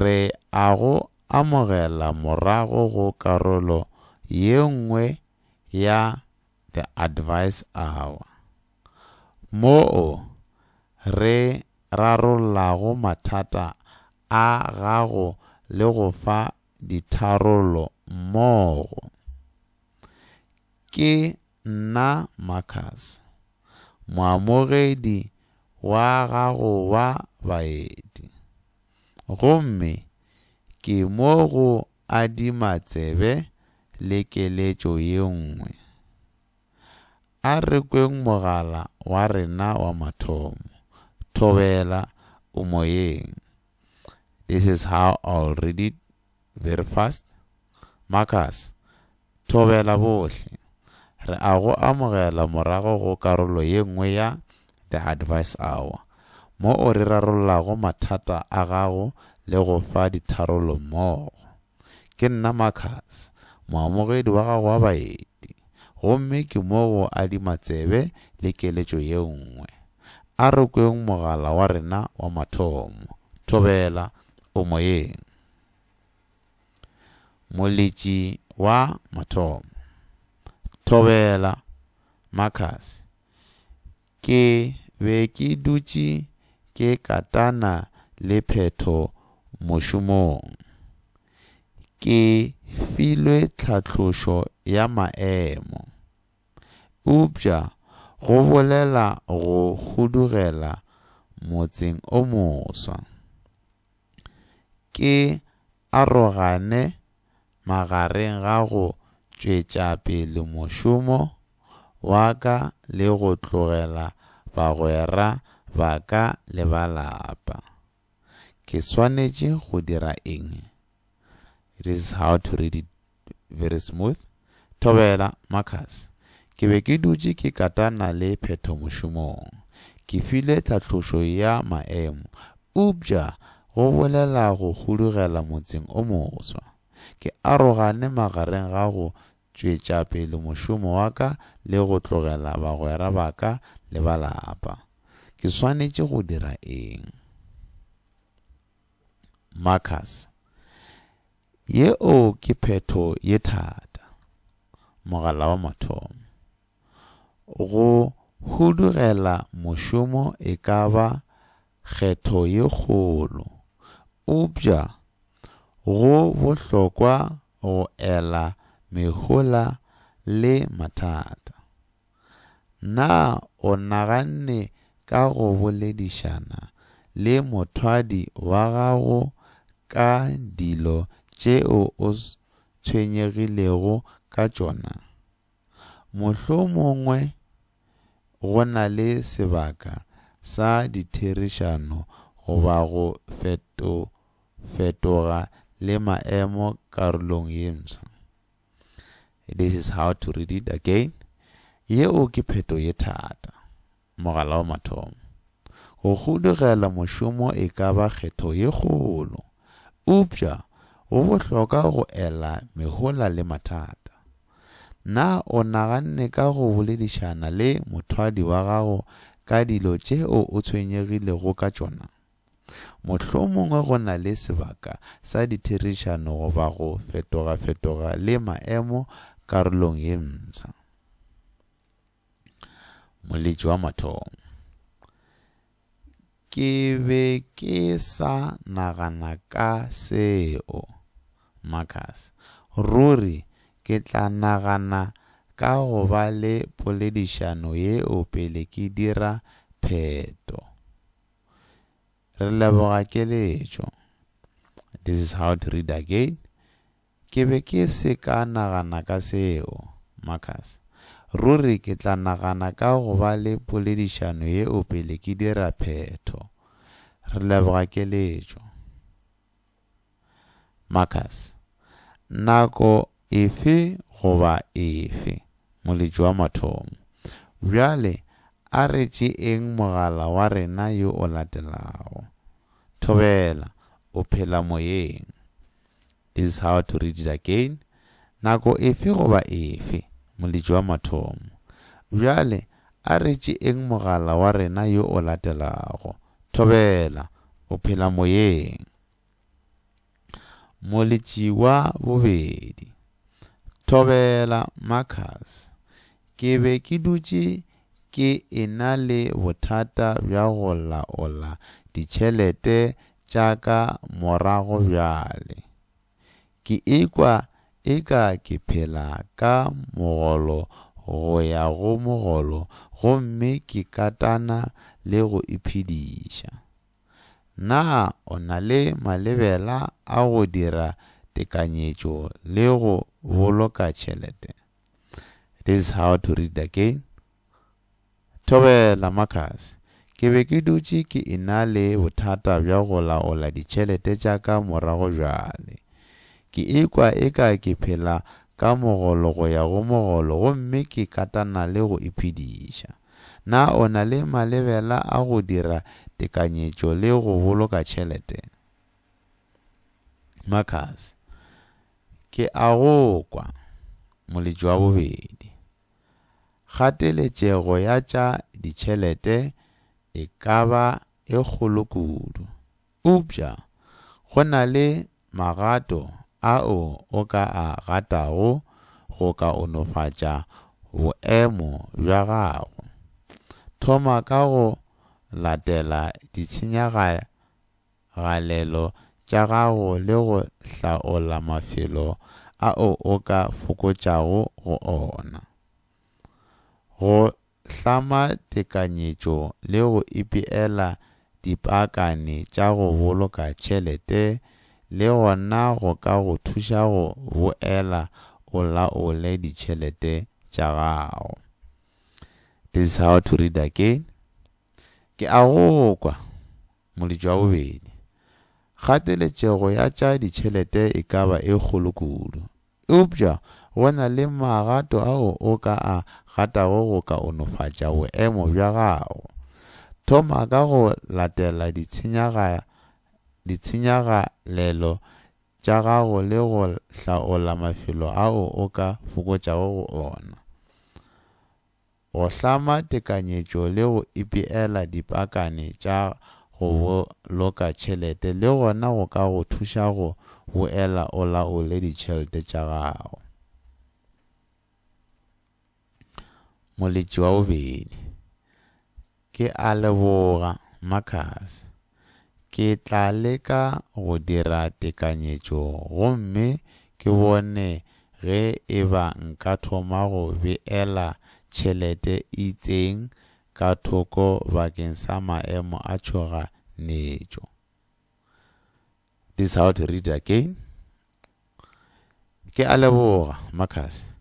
re a go amogela morago go karolo ye nngwe ya The Advice Hour, moo re rarollago mathata a gago le go fa ditharollo mmogo. Ke nna Marcus, moamogedi wa gago wa baeti, gomme ke mo go adima tsebe le keletšo ye nngwe. A re kweng mogala wa rena wa mathomo, Thobela, O Moyeng. This is how I'll read it Very fast. Marcus, Thobela bohle. Re a go amogela morago go karolo ye nngwe ya The Advice Hour, mo o re rarollago mathata a gago le go fa ditharollo mmogo. Ke nna Marcus, moamogedi wa gago wa baeti, gomme ke mo go adima tsebe le keletšo ye nngwe. A re kweng mogala wa rena wa mathomo. Thobela, o moyeng. Moletši wa mathomo, Thobela Marcus, Ke be ke dutše ke katana le phetho mošomong. Ke filwe tlhatlošo ya maemo. Eupša go bolela go hudugela motseng o moswa. ke arogane magareng ga go tšwetša pele mošomo wa ka le go tlogela bagwera ba ka le ba lapa. Ke swanetše go dira eng? It is how to read it very smooth. Thobela, Marcus. Ke be ke dutše ke katana le phetho mošomong. Ke file tlhatlošo ya maemo. Eupša go bolela go hudugela motseng o moswa. Ke arogane magareng ga go tšwetša pele mošomo wa ka le go tlogela bagwera ba ka le ba lapa. Ke swanetše go dira eng? Marcus. Yeo ke phetho ye thata. Mogala wa mathomo. Go hudugela mošomo e ka ba kgetho ye kgolo, eupša go bohlokwa go ela mehola le mathata. Na o naganne ka go boledišana le mothwadi wa gago ka dilo tšeo o tshwenyegilego ka tšona? Mohlomongwe go na le sebaka sa ditherišano goba go fetofetoga le maemo karolong ye mfsa. This is how to read it again. Yeo ke pheto ye thata. Mogala wa mathomo. Go hudugela mošomo e ka ba kgetho ye kgolo. Upša, go bohloka go ela mehola le mathata. Na o naganne ka go boledišana le mothwadi wa gago ka dilo tšeo o tshwenyegilego ka tšona? Mohlomongwe go na le sebaka sa ditherišano goba go fetogafetoga le maemo karolong ye msa. Moletši wa mathomo. Ke be ke sa nagana ka seo, Marcus. Ruri ke tla nagana ka go ba le poledišano yeo pele ke dira pheto. Re leboga keletšo. This is how to read again. Ke be ke se ka nagana ka seo, Marcus. Ruri ke tla nagana ka go ba le poledišano yeo pele ke dira phetho. Re leboga keletšo. Marcus, Nako efe goba efe, Moletši wa Mathomo. Bjale a re tšeeng mogala wa rena yo o latelago. Thobela, o phela moyeng. This is how to read it again. Nako efe goba efe, Moletši wa Mathomo. Bjale A re tšeeng mogala wa rena yo o latelago. Thobela, o phela moyeng? Moletši wa bobedi, Thobela, Marcus. Ke be ke dutše ke ena le bothata bja go laola ditšhelete tša ka morago bjale. Ke ikwa eka ke phela ka mogolo go ya go mogolo gomme ke katana le go iphediša. Na o na le malebela a go dira tekanyetšo le go boloka tšhelete? This is how to read again. Thobela, Marcus. Ke be ke dutše ke ena le bothata bja go laola ditšhelete tša ka morago bjale. Ke ikwa eka ke phela ka mogolo go ya go mogolo gomme ke katana le go iphediša. Na o na le malebela a go dira tekanyetšo le go boloka tšhelete? Marcus, Ke a go kwa, moletši wa bobedi. Kgateletšego ya tša ditšhelete e ka ba e kgolo kudu. Eupša go na le magato ao o ka a gatago go kaonofatša boemo bja gago. Thoma ka go latela ditshenyagalelo tša gago. galelo tša gago le go hlaola mafelo ao o ka fokotšago go ona. Go hlama tekanyetšo le go ipeela dipaakane tša go boloka tšhelete le gona go ka go thuša go boela o laole ditšhelete tša gago. This is how to read again. Ke a go kwa. Moletšo wa bobedi, Kgateletšego ya tša ditšhelete e ka ba e kgolo kudu. Eupša go na le magato ao o ka a gatago go kaonofatša boemo bja gago. Thoma ka go latela ditshenyagalelo tša gago le go hlaola mafelo ao o ka fokotšago go ona. go hlama tekanyetšo le go ipeela dipakane tša go boloka tšhelete le gona go ka go thuša go boela o laole ditšhelete tša gago. Moletši wa bobedi. Ke a leboga, Marcus. Ke tla leka go dira tekanyetšo gomme ke bone ge e ba nka thoma go beela tšhelete e itseng ka thoko bakeng sa maemo a tšhoganetšo. This is how to read again. Ke a leboga, Marcus.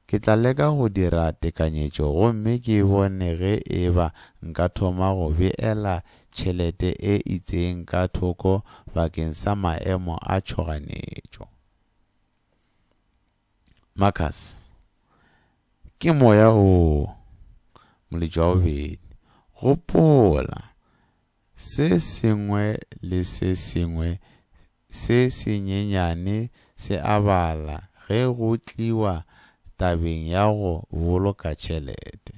Ke tla leka go dira tekanyetšo gomme ke bone ge e ba nka thoma go beela tšhelete e itseng ka thoko bakeng sa maemo a tšhoganetšo. Marcus, Ke moya woo, Moledi wa bobedi. Gopola, Se sengwe le se sengwe se senyenyane se a bala ge go tliwa tabeng ya go boloka tšhelete.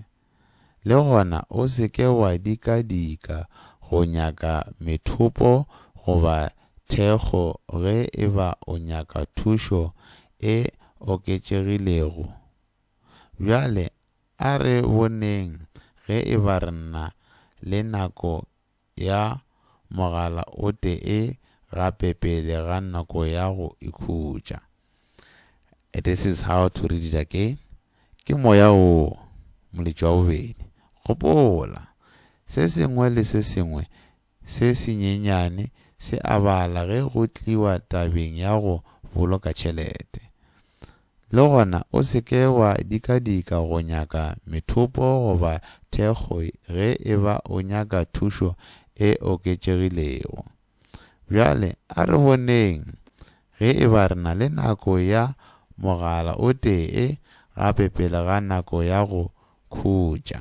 Le gona o se ke wa dikadika go nyaka methopo goba thekgo ge e ba o nyaka thušo e oketšegilego. Bjale A re boneng ge e ba re nna le nako ya mogala o tee gape pele ga nako ya go ikhutša. This is how to read it again, Ke moya wo, moletši wa bobedi. Gopola, se sengwe le se sengwe se senyenyane se a bala ge go tliwa tabeng ya go boloka tšhelete. Le gona o se ke wa dikadika go nyaka methopo goba thekgo ge e ba o nyaka thušo e oketšegilego. Bjale a re boneng ge e ba re na le nako ya mogala o tee gape pele ga nako ya go khutša.